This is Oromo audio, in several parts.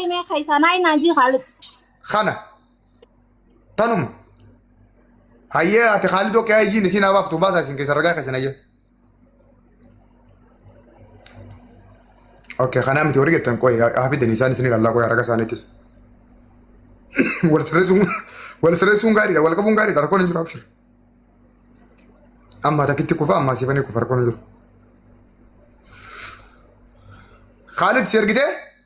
mee ka isaan ayi naan jii Khaalid. kana tanuma hayyee ati khaalidoo qe'aa ijjiin isiin haa baaftu baasaa isin keessa ragaa keessan hayyee Okay, kanaa miti warri gettan qoy haa fidani isaan isin ilaallaa qoy raga isaaniitis. Wal sirreessuun wal sirreessuun gaariidha wal qabuun gaariidha rakkoon hin jiru abshir. Amma takkitti kufa amma siifanii kufa rakkoon hin jiru. Khaalid si ergitee?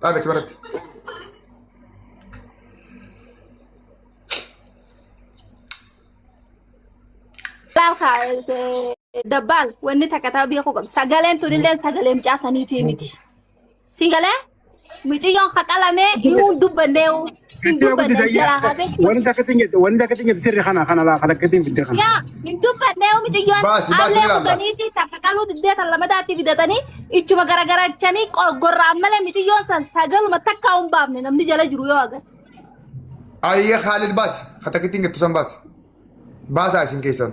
Dhaabe achi maratti. Laal kaa dabbaan wanni takka ta'u beekuu qabdi. Sagaleen tunillee sagalee mucaa saniitii miti. Sigalee mucayyoon haqalamee yoo dubbannee Hin dubbanne jara haasee. Wanti akkatti nyaatte wanti akkatti nyaatte sirri kana kana laa kana akkatti hin fidde kana. Yaa hin dubbanne yoo miciyyoon Baasi, baasi, amlee ilaalla. kutaniitii takka qaluu diddee tan lamadaatti fidatanii ichuma garagarachanii qorgorraan malee miciyyoon san sagaluma takkaa hin baafne namni jala jiru yoo agarre. Ayyee Khaalid baasi. Katakittiin gettu san baasi. Baasaa isin keessan.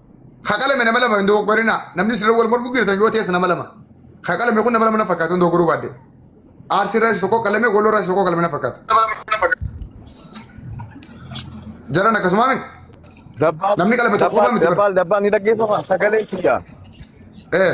Ka qalame nama lama hin dogoggorinaa. Namni sirra wal mormuu jirtan yoo ta'es nama lama. Ka qalame kun nama lama na fakkaatu hin dogoggoruu baadde. Aarsi irraas tokko qalame, Walloo irraas tokko qalame na fakkaatu. Jaran akkasumaa miti. Dabbaan Namni qalame tokko qofa miti bara. dabbaan dabbaan ni dhaggeeffama sagalee kiyya. Eh.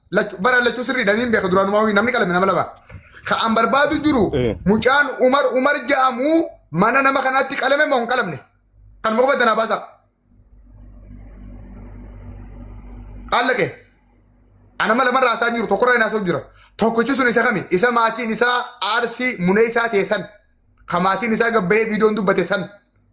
Lachu- bara lachuu sirriidha niin beeka duraanumaa wii namni qalame nama lama ka an barbaadu jiru Eh. mucaan umar umar ja'amu mana nama kanaatti qalame moo hin qalamne kan maqaa baddanaa baasa allaqe ana mala marraa isaa jiru tokkorra hin haasa'u jira tokkichi sun isa kami isa maatiin isaa aarsii munee isaa ta'e san ka maatiin isaa gabbayee viidiyoon dubbate san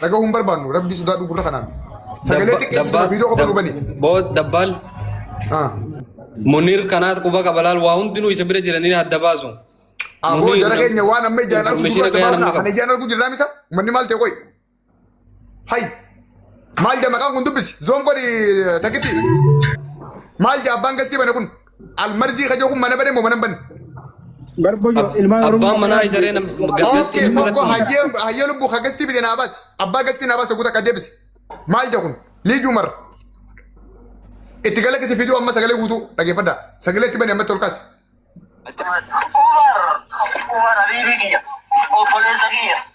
Dhagahuu hin barbaannu rabbii sodaadhu gurra kanaan. Sagalee xiqqeessituma viidiyoo qofa nu bani. Boot dabbaal. Ah. Munir kanaat quba qaba laal waa hundinuu isa bira jiranii adda baasu. Aboo Munir jara nam- keenya waan amma ijaan argu information dura gahaa nama dabarna. Kan qaba. ijaan argu jirraa misa uummanni maal ta'e qoy. Hay. Maal jaa maqaan kun dubbisi. Zoon godhi takitti. Maal jaa abbaan gastii bane kun. Almarzii kajoo kun mana bane moo mana hin banne? Garbo jo ilmaan Oromoo. Abbaan manaa isa ree nama Okay, gaggeessu tokko irratti. hayyee hayyee lubbuu ka gastii bide naa baasi. Abbaa gastii naa baasi guuta qadeebisi. Maal jedha kun? Liijuu marra. Itti gala kisi fiduu amma sagalee guutuu dhageeffadha. Sagalee itti bane ammatti ol kaasi. Umar, Umar Habibi kiyya, obboleessa kiyya.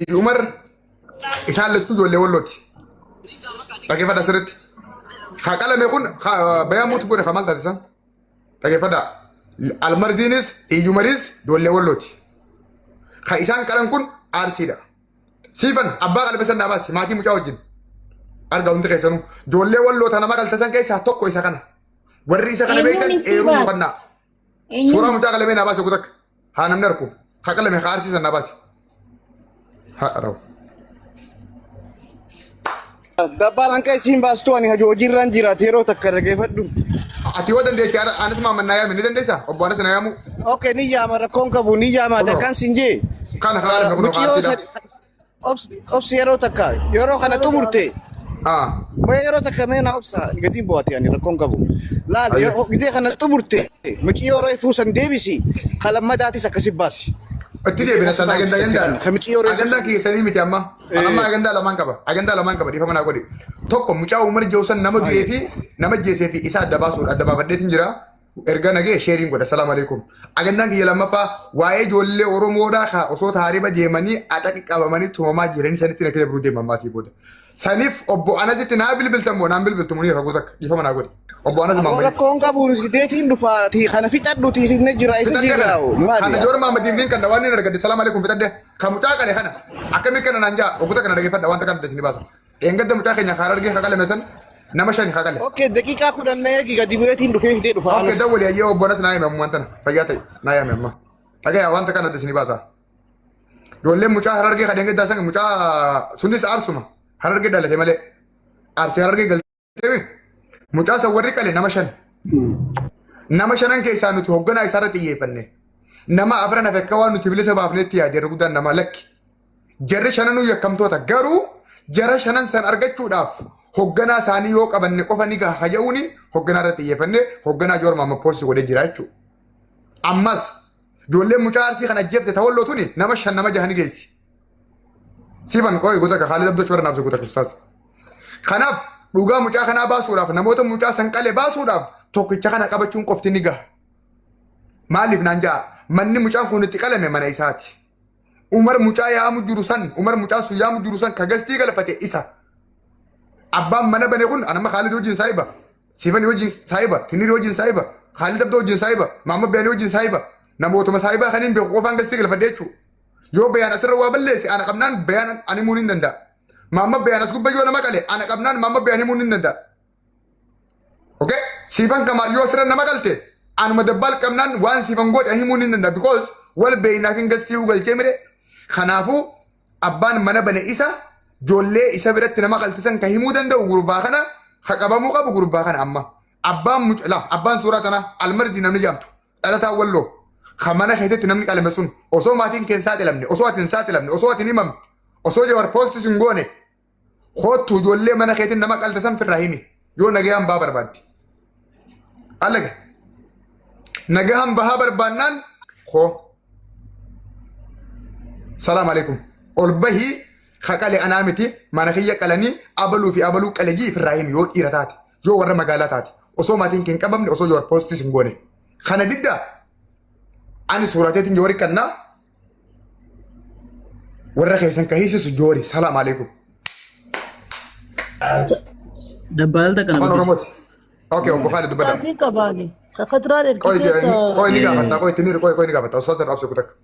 Haji Umar isaan lachuu ijoollee wallooti. Dhaggeeffadha sirriitti. Ka qalame kun bayaa muutu godhe ka maal taate san? Dhaggeeffadha. Almarziinis Iyyumaris ijoollee wallooti. Ka isaan qalan kun aarsiidha. Siifan abbaa qalame san dhaabaasi maatii mucaa wajjin. Arga hundi keessanuu ijoollee walloota nama galtesan keessaa tokko isa kana. Warri isa kana beektan eeruu hubannaa. Eenyu? Suuraa mucaa qalamee naa baase kutakka. Haa namni arku. Haa qalame haa arsiisan naa baase. Haa dharawu. Dabbaan hanqa isiin baastu ani hajii hojiirraan jiraate yeroo takka dhaggeeffadhu. Ati yoo dandeesse ana- anas maaman naa yaame ni dandeessa? Obbo Anas naa yaamuu? Okay ni yaama rakkoon qabu ni yaama Kunoo. dakkaan siin jee. Kana haa qalame kunoo haa Mucayyoo arsiidha. sadi- Obsi obsi yeroo takka yeroo kana xumurte Ah. mee yeroo takka mee na obsa gatiin bu'aati ani rakkoon qabu. Laal Ayyo. yeroo gizee kana xumurte micii yeroo ifuu san deebisi kalammadaatis akkasi baasi. Itti deebina sana agandaa agandaa. Kamichi yoo reefu- Agandaa keessanii miti amma. An amma agandaa lamaan qaba. Agandaa lamaan qaba dhiifama naa godhi. Tokko mucaa Umar Jawsan nama du'ee fi nama jeesee fi isaa adda baasuudha. Adda baafadheetiin jira. erga nagee sheeriin godha salaam alaikum ajandaan kiyya lammaffaa waa'ee ijoollee oromoodhaa kaa osoo taariba deemanii axaqi qabamanii tumamaa jiranii sanitti na kila biruu deema ammaa sii booda saniif obbo anasitti naa bilbiltan moo naan bilbiltu munii raguu takka dhiifama naa godhi obbo anas Aboo maammadii rakkoon qabu sideetiin dhufaatii kana fixadhuutii finne jira isa fixadde kana jiraawu kan maali? ijoollee maammadiif niin kan dawaan niin argadde salaam alaikum fixadde kan mucaa qale kana akkamii kana naan jaa oguu takka na dhageeffadha wanta kana isin baasa Dheengadda mucaa keenya kaara argee kaqalame san nama shani kaqale. Okay, daqiiqaa kudhan na eegi gadi bu'eetiin dhufee fidee dhufa. Okkee dawwali ayyee obbolas naa hime ammaan tana fayyaa ta'e naa hime ammaa. Dhagaya wanta kana isin baasa. Ijoolleen mucaa harargee kan dheengaddaa san mucaa sunis aarsuma harargee dhalate malee aarsee harargee galte. Deebi. Mucaa san warri qale nama shan. Nama shanan keessaa nuti hoogganaa isaarra xiyyeeffanne. Nama afran hafe akka waan nuti bilisa baafnetti yaade irra guddaan nama lakki. Jarri shananuu yakkamtoota garuu jara shanan san argachuudhaaf hoogganaa isaanii yoo qabanne qofa ni gaha haja'uuni hoogganaa irra xiyyeeffanne hoogganaa joorma amma poosti godhee jira jechuudha. Ammas ijoolleen mucaa arsii kan ajjeefte ta'olloo tuni nama shan nama jahan geessi. Siban qoy guta ka Khalid Abdul Chwar nabse guta ustaz. Kanaaf dhugaa mucaa kanaa baasuudhaaf namoota mucaa san qale baasuudhaaf tokkicha kana qabachuun qofti ni gaha. Maaliif naan ja'a manni mucaan kun itti qalame mana isaati. Umar mucaa yaamu jiru san Umar mucaa sun yaamu jiru san ka gastii galfate isa. Abbaan mana bane kun anama Khalid wajjin saahiba. Siifan wajjin saahiba. Tinir wajjin saahiba. Khalid Abdoo wajjin saahiba. Maamma Biyaan wajjin saahiba. Namootuma saahibaa kaniin beeku qofaan gastii galfadhe jechuudha. Yoo bayaan asirra waa balleesse ana qabnaan bayaan ani himuun hin danda'a. Maamma bayaan as gubba yoo nama qale ana qabnaan maamma bayaan himuun hin danda'a. Okay? Siifan kamaal yoo asirra nama qalte anuma dabbaal qabnaan waan siifan goote ani himuun hin danda'a. Because wal beeynaaf hin gastii uu galchee mire. Kanaafuu abbaan mana bane isa joollee isa biratti nama qaltisan ka himuu danda'u gurbaa kana ka qabamuu qabu gurbaa kana amma. Abbaan mucala abbaan suuraa tanaa almarzii namni jaamtu Dhalataa Walloo kan mana keessatti namni qalame sun osoo maatiin kee hin saaxilamne, osoo ati hin saaxilamne, osoo ati hin himamne, osoo Jawar poostis hin goone koottu ijoollee mana keetiin nama qalte san firraa himi yoo nagayaan bahaa barbaadde. Allaga nagayaan bahaa barbaannaan koo salaam alaikum ol bahii ka qale anaa miti mana kiyya qalanii abaluu fi abaluu qale jii firraa himi yoo dhiira taate. yoo warra magaalaa taate osoo maatiin kee hin qabamne osoo yoo poostis hin goone kana diddaa ani suuraateetiin yoo rikkannaa warra keessan ka hiisisu joori salaam aleekum Dabbaalta kana afaan oromooti ok obbo Kaalid dubbadha Maatiin qabaani. Akka duraan ergi qoy keessa qoy ni gaafata qoy itti ni qoy qoy ni gaafata osoo tan obse kutakka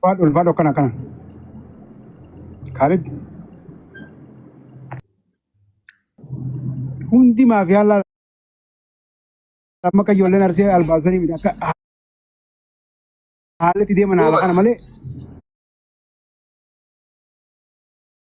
Ulfaadhu ulfaadhu akkana akkana. Kaalid hundi maafiyaan laala amma akka ijoolleen arsee albaasanii miti akka ha- haalatti deeman haala kana Goobas. malee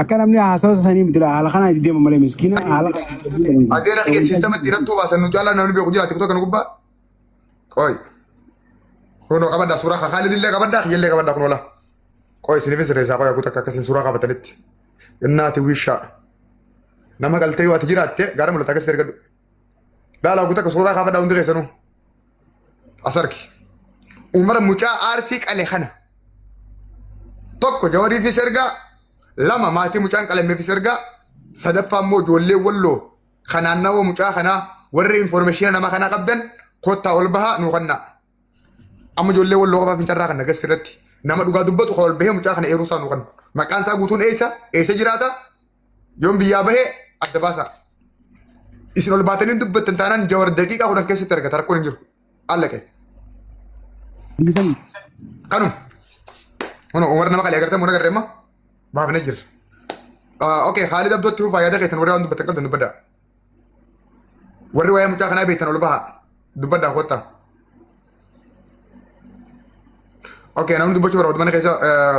Akka namni haasawaa sanii miti haala kanaa itti deema malee miskiina haala Adeera kee siistama itti hidhattuu baasan nu caalaa namni beeku jiraate kutaa kana gubbaa. Qoy. Kunoo qabaddaa suuraa kaa Kaalid illee qabaddaa kiyyallee qabaddaa kunoo laa. Qoy isiniifis reessaa qoy haguuta akka akkasiin suuraa qabatanitti. Innaati wishaa. Nama galtee yoo ati jiraatte gaara mul'ata akkasitti ergadhu. Laala haguuta akka suuraa kaafadhaa hundi keessanuu. as argi umar mucaa aarsii qale kana tokko jawariifis ergaa lama maatii mucaan qalameefis ergaa sadaffaa immoo ijoollee walloo kanaan nama mucaa kanaa warri informeeshina nama kanaa qabdan kottaa ol bahaa nuu kannaa amma ijoollee walloo qofaa fincarraa kan nagas irratti nama dhugaa dubbatu kan ol bahee mucaa kana eeruu isaa nuu kanna maqaan isaa guutuun eessa eessa jiraata Yoon biyyaa bahee adda baasaa. Isin ol baatanii dubbattan taanaan jawar daqiiqaa kudhan keessatti argata rakkoon hin jiru. Alla kee. Dhiisan Kanuma. Kun Umar nama qalii agartee mura garree immoo baafnee jirra. Okee Khaalid Abdootti fufaa yaada keessan warri waan dubbattan qabdan dubbadhaa. Warri waa'ee mucaa kanaa beektan ol bahaa dubbadhaa kottaa. Okee namni dubbachuu barbaadu mana keessa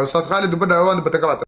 Ustaaz Khaalid dubbadhaa waan dubbattan qabaatan.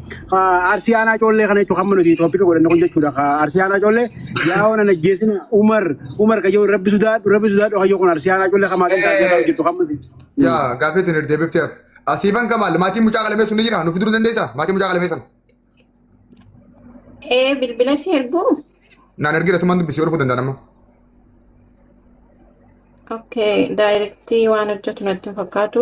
Arsii aanaa coollee kana jechuun hamma nuti tooppika godhanne kun jechuudha. Arsii aanaa coollee yaa oonan ajjeesina Umar Umar kayyoo rabbi sudaadhu rabbi sudaadhu kayyoo kun arsii aanaa coollee kamaa kan taasisaa hojjetu hamma nuti. Yaa gaaffii tun deebiftee hafe. Asiifan Kamaal maatiin mucaa qalamee sun ni jira nuuf fiduu dandeessaa maatiin mucaa qalamee sana. Ee bilbila si erguu? Naan ergira tumaan dubbisee dhufuu danda'a nama. Okay, daayirektii waan hojjetu natti hin fakkaatu.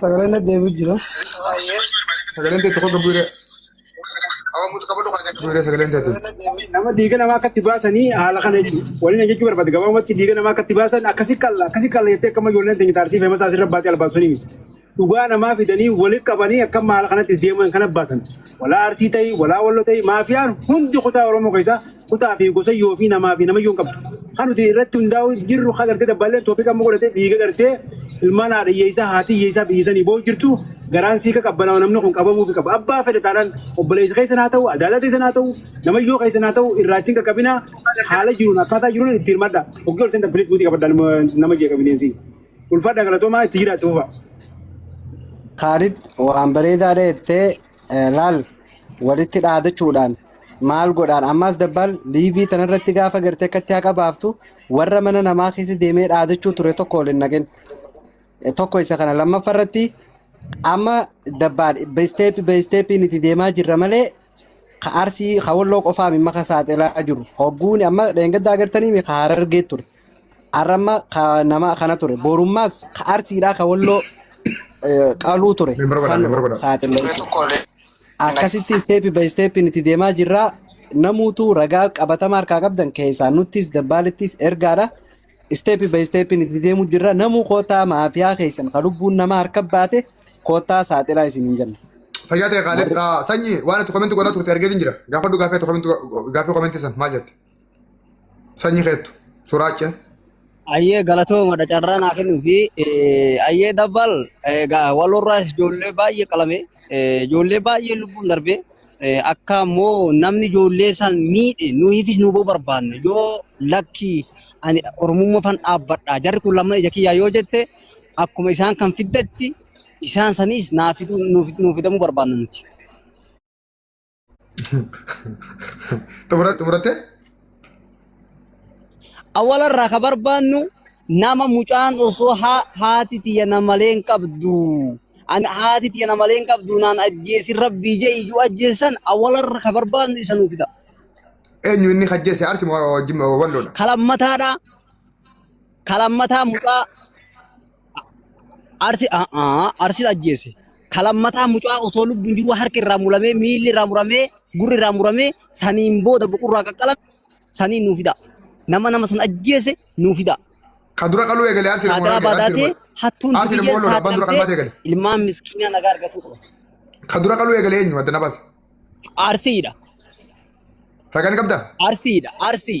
Sagaleen deebi'u jira. Sagaleen teetu qofa bu'uure. Bu'uure sagaleen teetu. Nama dhiiga namaa akkatti baasanii haala kana jechuudha. Waliin jechuu barbaade gabaabumatti dhiiga namaa akkatti baasan akkasi qalla akkasi qalla jettee akkama ijoolleen teenya taarsii feema isaas irra baatee albaan sunii miti. Dhugaa namaa fidanii walitti qabanii akkam haala kanatti deeman kana baasan. Walaa arsii ta'ii walaa wallo ta'ii maafiyaan hundi kutaa Oromoo keessaa kutaa fi gosa yoo fi namaa fi nama yoo hin qabdu. Kan nuti irratti hundaa'u jirru kan gartee dabbaalleen toopika amma godhatee dhiiga gartee ilmaan haadha hiyyeessaa haati hiyyeessaa biyya sanii boo'u jirtu garaan sii ka qabbanaa namni kun qabamuu fi qaba. Abbaa fedhe taanaan obboleessa keessan haa ta'u adaadaa keessan haa ta'u namayyoo keessan haa ta'u irraatiin qaqqabinaa haala jiruun akkaataa jiruun itti hirmadha. Oggii ol seentan pilis buutii qabadha nama jeeqa bineensi. Ulfaadha galatoomaa itti jiraatti fufa. Kaalid waan bareedaadha jettee laal walitti dhaadachuudhaan maal godhaan ammaas dabbaal liivii tanarratti gaafa gartee akkatti haqa baaftu warra mana namaa keessa deemee dhaadachuu ture tokko waliin naqin tokko isa kana lammaffaa irratti amma dabbaal isteeppi bay isteeppiin itti deemaa jirra malee ka arsii ka walloo qofaa mimma ka saaxilaa jiru hogguun amma dheengaddaa agartanii mi ka harargee ture Arramma ka nama kana ture. Borummaas ka arsiidhaa ka walloo eh, qaluu ture. Mee bara godhaa, San mee bara godhaa. saaxile Turee jechuudha. tokko olee. Akkasitti isteepi bayi isteepiin itti deemaa jirra. Namuutu ragaa qabatamaa harkaa qabdan keessaa nuttis dabbaalittis ergaadha. Isteepi bayi isteepiin itti deemuu jirra. Namuu kootaa maafiyaa keessan ka lubbuun namaa harka baate kootaa saaxilaa isin hin jenna. Fayyaa ta'e Kaalid. Warri Sanyii waan ati komenti godhaa turte argeetiin jira. Gaafadhu gaafii ati komenti gaafii komenti san maal jette? Sanyi keettu. Suraacha. Ayyee galatooma carraa naa kennuu fi ayyee dabbal egaa walorraas ijoollee baay'ee qalame ijoollee baay'ee lubbuun darbe akka immoo namni ijoollee san miidhe nuyiifis nu barbaanne yoo lakkii ani oromummaa fan dhaabbadha jarri kun lamma ija kiyyaa yoo jette akkuma isaan kan fiddetti isaan saniis naa fiduu nuuf fidamuu barbaanna nuti. Xumura xumurattee? Awwala irraa ka barbaannu nama mucaan osoo haa- haati tiyya na malee hin qabdu. Ani haati tiyya na malee hin qabdu naan ajjeesin rabbii jee iyyuu ajjeessan awwala irra ka barbaannu isa nuuf fida. Eenyu inni hajjeese arsi moo jimma walloodha? Kalammataadha. Kalammataa mucaa Arsi arsi ajjeese. Kalammataa mucaa osoo lubbuun jiruu harki irraa muramee miilli irraa muramee gurri irraa muramee saniin booda buqurraa qaqqalame saniin nuu fidaa. Nama nama san ajjeese nuu fidaa. Ka dura qaluu eegale arsi namoota Saaxiraa eegale arsi baadaatee namoota. hattuun Arsi dubiyyeen namoota abbaan dura qalmaata saaxilamtee eegale. ilmaan miskiinaa nagaa argatuu qaba. Ka dura qaluu eegale eenyu adda na baasa. Arsiidha. Ragaan qabdaa? Arsiidha. Arsii.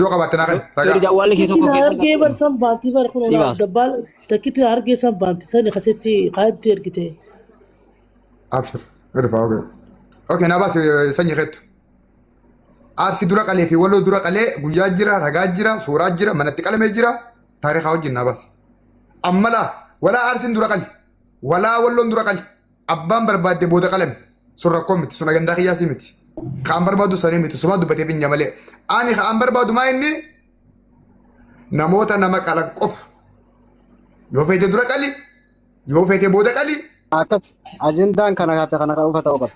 Yoo qabaatte naa kenni. Teri Ragaa. jawwalli kee tokko Takkitti keessa hargee bar san baanti bar kun Si olaaf baasa. dabbaal takkitti hargee san baanti sani kasitti kaatti ergite. Abshir. Irfa oke. Oke naa baasi sanyi keettu. Aarsi dura qalee fi waloo dura qalee guyyaa jira ragaa jira suuraa jira manatti qalamee jira taarikaa wajjin naa baasi. Ammalaa walaa aarsiin dura qali. Walaa walloon dura qali. Abbaan barbaadde booda qalami. Sun rakkoo miti. Sun agandaa kiyyaasii miti. Kaan barbaadu sanii miti. Sumaa dubbatee finya malee. Ani kaan barbaadu maa inni namoota nama qalan qofa. Yoo feete dura qali. Yoo feete booda qali. Akkati ajendaan kana kaate kana kan uffata qaba.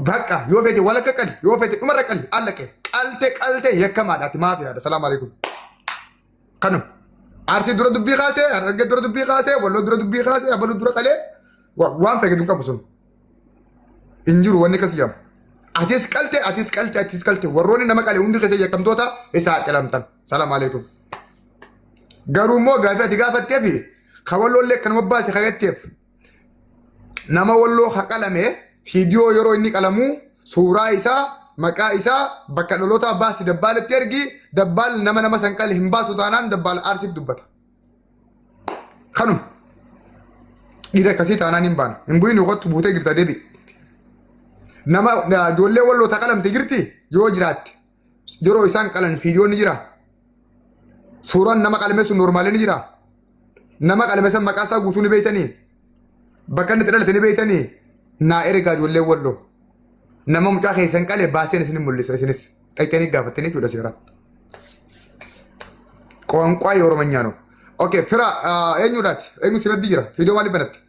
Bakka yoo feete walakka qali. Yoo feete dhumarra qali. Allaqe. Qalte qalte yakkamaadhaati maafiyaadha. Salaamu alaikum. Kanu Arsii dura dubbii kaasee, Harargee dura dubbii kaasee, Walloo dura dubbii kaasee, Abaluu dura qalee waan feeketu hin qabu sun. Hin jiru wanni akkasii jedhamu. Atis qalte, atis qalte, atis qalte. Warroonni nama qale hundi keessa yakkamtoota isa haaxilamtan. Salaam aleekum. Garuu immoo gaafii ati gaafatteefi kan walloollee kanuma baase kan jetteef nama walloo ka qalame fiidiyoo yeroo inni qalamuu suuraa isaa maqaa isaa bakka dhalootaa baasi dabbaaletti ergi dabbaal nama nama san qale hin baasu taanaan dabbaal aarsiif dubbata. Kanuma dhiira akkasii taanaan hin baanu hin bu'iin yookaatti buutee jirta deebi'i. Nama ijoollee walloo ta qalamte jirti yoo jiraatte yeroo isaan qalan fiidiyoon ni jira. Suuraan nama qalame sun noormaalee ni jira. Nama qalame san maqaa isaa guutuu ni beektanii. Bakka inni itti dhalate ni beektanii. Naa ergaa ijoollee walloo. Nama mucaa keessan qale baaseen isin mul'isa isinis. Dhaqxanii gaafattanii jechuudha seeraan. Qoonqaa Oromanyaa no. Okay, fira eenyudhaati? Eenyu si maddii jira? Fiidiyoo maaliif banatte?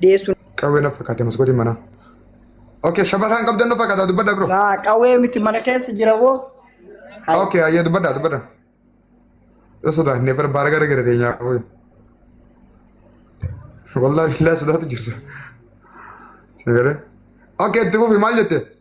dhiyeessuun Qawwee na fakkaate maskootiin manaa. Okay, shabataan qabdan na fakkaata dubbadha bro. Laa, qawwee miti mana keessa jira boo Hai. Okay, ayyee dubbadha dubbadha. Yoo sodaannee bara baara gara gara teenyaa qawwee. Wallaahi billaa sodaatu jirra. Sagalee. Okay, itti fufi maal jette?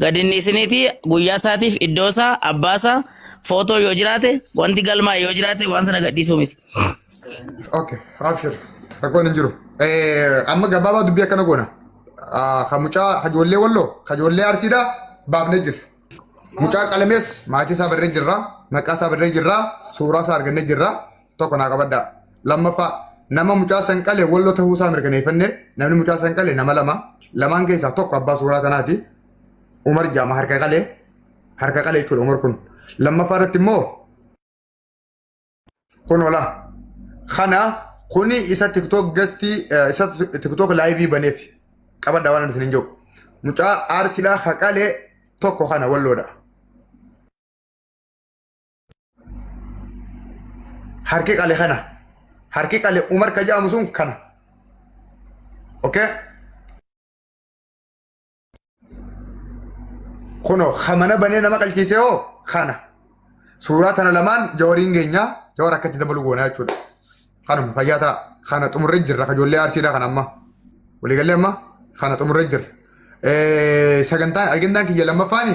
Gad hin dhiisiniitii guyyaa isaatiif iddoo isaa abbaa isaa footoo yoo jiraate wanti galmaa'e yoo jiraate waan sana gad dhiisuu miti. Okay, abshir. Rakkoon hin jiru. Eh, Amma gabaabaa dubbii akkana goona. Ah, Ka mucaa hajoollee walloo, hajoollee arsiidhaa baafnee jirra. Mucaa qalamees maatii isaa barree jirra, maqaa isaa barree jirra, suuraa isaa argannee jirra. tokko naa qabadhaa. Lammaffaa nama mucaa san qale walloo ta'uu isaa mirkaneeffanne namni mucaa san qale nama lama lamaan keessaa tokko abbaa suuraa tanaati. Umar jaama harka qalee harka qalee jechuudha Umar kun. Lammaffaa irratti immoo kun ola. Kana kuni isa tiktook gastii isa tiktook laayivii baneef qabadha waan isin hin jiru. Mucaa aarsiidhaa haqalee tokko kana walloodha. harki qale kana harki qale umar ka jedhamu sun kana okay kuno kamana banee nama qalchiisee hoo kana suuraa tana lamaan jawariin keenya jawar akkatti dabalu goonaa jechuudha kanuma fayyaa ta'a kana xumurree jirra ka ijoollee arsiidha kan amma waliigallee amma kana xumurree jirra sagantaan agendaan kiyya lammaffaani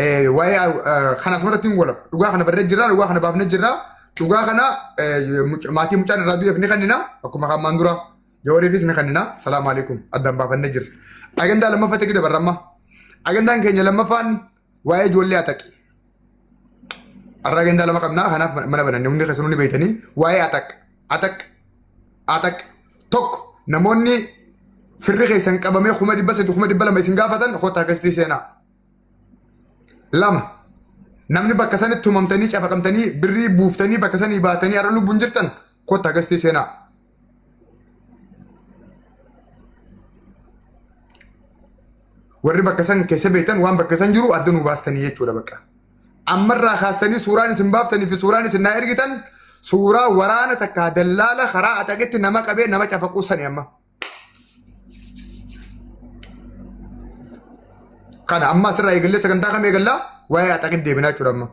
Eh, waa'ee eh, kan asumarratti hin walab dhugaa kana barree jirra dhugaa kana baafnee jirra dhugaa kana eh, muc- maatii mucaan irraa du'eef ni kennina akkuma hammaan dura jawaariifis ni kennina salaamu alaikum addaan baafannee jirra agandaa lammaffaa ta'e dabarra amma agandaan keenya lammaffaan waa'ee ijoollee ataqi har'a agandaa lama qabna kanaaf mana bananne hundi keessanuu ni beektanii waa'ee ataq ataq ataq tokko namoonni firri keessan qabamee kuma dhibba sadii kuma dhibba lama isin gaafatan kottaa keessatti seenaa lama namni bakka sanitti tumamtanii cafaqamtanii birrii buuftanii bakka sanii baatanii har'a lubbuun jirtan kotta gastii seenaa. Warri bakka san keessa beektan waan bakka san jiru adda nu baastanii jechuudha bakka. Ammarraa kaastanii suuraan isin baaftanii fi suuraan isin naa ergitan suuraa waraana takkaa dallaala karaa axaqetti nama qabee nama cafaquu sani amma. Kana amma asirraa eegallee sagantaa kam eegallaa? Waa'ee axaqit deebinaa jechuudha amma.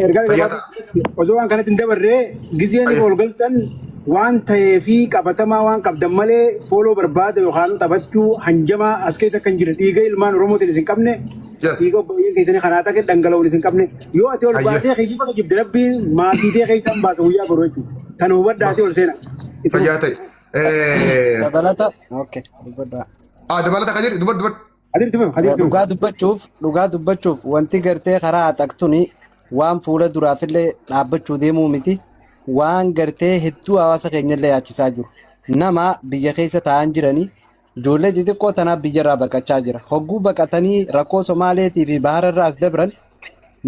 Ergaa Fayyaa gabaabaa osoo waan kanatti hin dabarre gizeen Fayyaa. wal galtan waan ta'ee fi qabatamaa waan qabdan malee fooloo barbaada yookaan taphachuu hanjamaa as keessa akka hin jirre dhiiga ilmaan Oromootiin isin qabne Yes. dhiiga obboleeyyan keessanii kanaa ta'e dhangala'uun isin qabne yoo ati ol Fayyaa. baatee keessa jibde rabbiin maatii ta'e keessa hin baasa guyyaa boruu jechuudha. Tan hubadhaa ti ol seena. Itti Fayyaa fufa. ta'e. Dabalata. Okay. Dubbadhaa. Ah, dabalata kan jedhu dubar dubar. Hadir itti fufa. Hadir itti fufa. Dhugaa dubbachuuf dhugaa dubbachuuf wanti gartee karaa haxaqtuni waan fuula duraafillee dhaabbachuu deemuu miti waan gartee hedduu hawaasa keenyallee yaachisaa jiru nama biyya keessa taa'an jiranii Ijoollee xixiqqoo tanaaf biyyarraa baqachaa jira. Hogguu baqatanii rakkoo Somaaleetii fi Bahararraa as dabran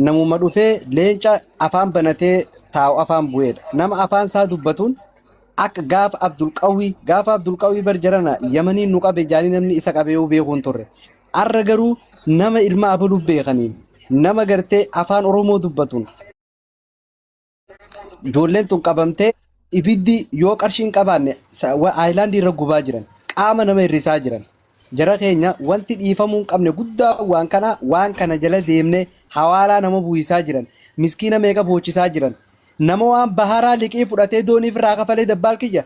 namuma dhufee leenca afaan banatee taa'u afaan bu'eedha. Nama afaan isaa dubbatuun akka gaafa Abdulqawwii gaafa Abdulqawwii bar jarana Yamaniin nu qabe jaanii namni isa qabeeyuu beekuu hin turre. Arra garuu nama ilma abaluu beekaniin nama gartee afaan Oromoo dubbatuun Ijoolleen tun qabamtee ibiddi yoo qarshii hin qabaanne sa- wa- aayilaandii irra gubaa jiran qaama nama hir'isaa jiran jara keenya wanti dhiifamuu hin qabne guddaa waan kana waan kana jala deemne hawaalaa nama buusisaa jiran miskiina meeqa boochisaa jiran nama waan baharaa liqii fudhatee dooniif irraa kafalee dabbaal kiyya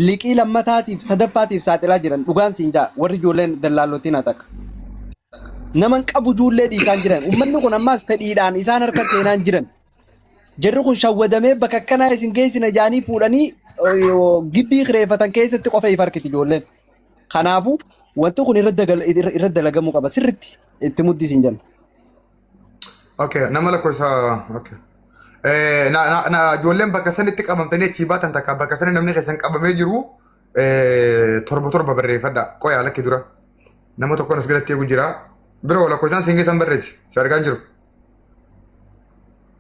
liqii lammataatiif sadaffaatiif saaxilaa jiran dhugaan siin jaa warri ijoolleen dallaallotiin haa takka. naman qabu ijoollee dhiisaan jiran ummanni kun ammaas fedhiidhaan isaan harka seenaan jiran Jarri kun shawwadamee bakka akkanaa isin geessina jaanii fuudhanii gibbii kireeffatan keessatti qofa if harkiti ijoolleen. Kanaafuu wanti kun irra dalagamuu qaba sirritti itti muddi isin jenna. Okay, nama lakkoofsa okay. Eh, na, na, na, ijoolleen bakka sanitti qabamtanii achii baatan takka bakka sani namni keessan qabamee jiru eh, torba torba barreeffadha. Qoyaa lakki dura. Nama tokkoon as galatti eegu jira. Biroo lakkoofsaan siin keessan barreessi. Si argaan jiru.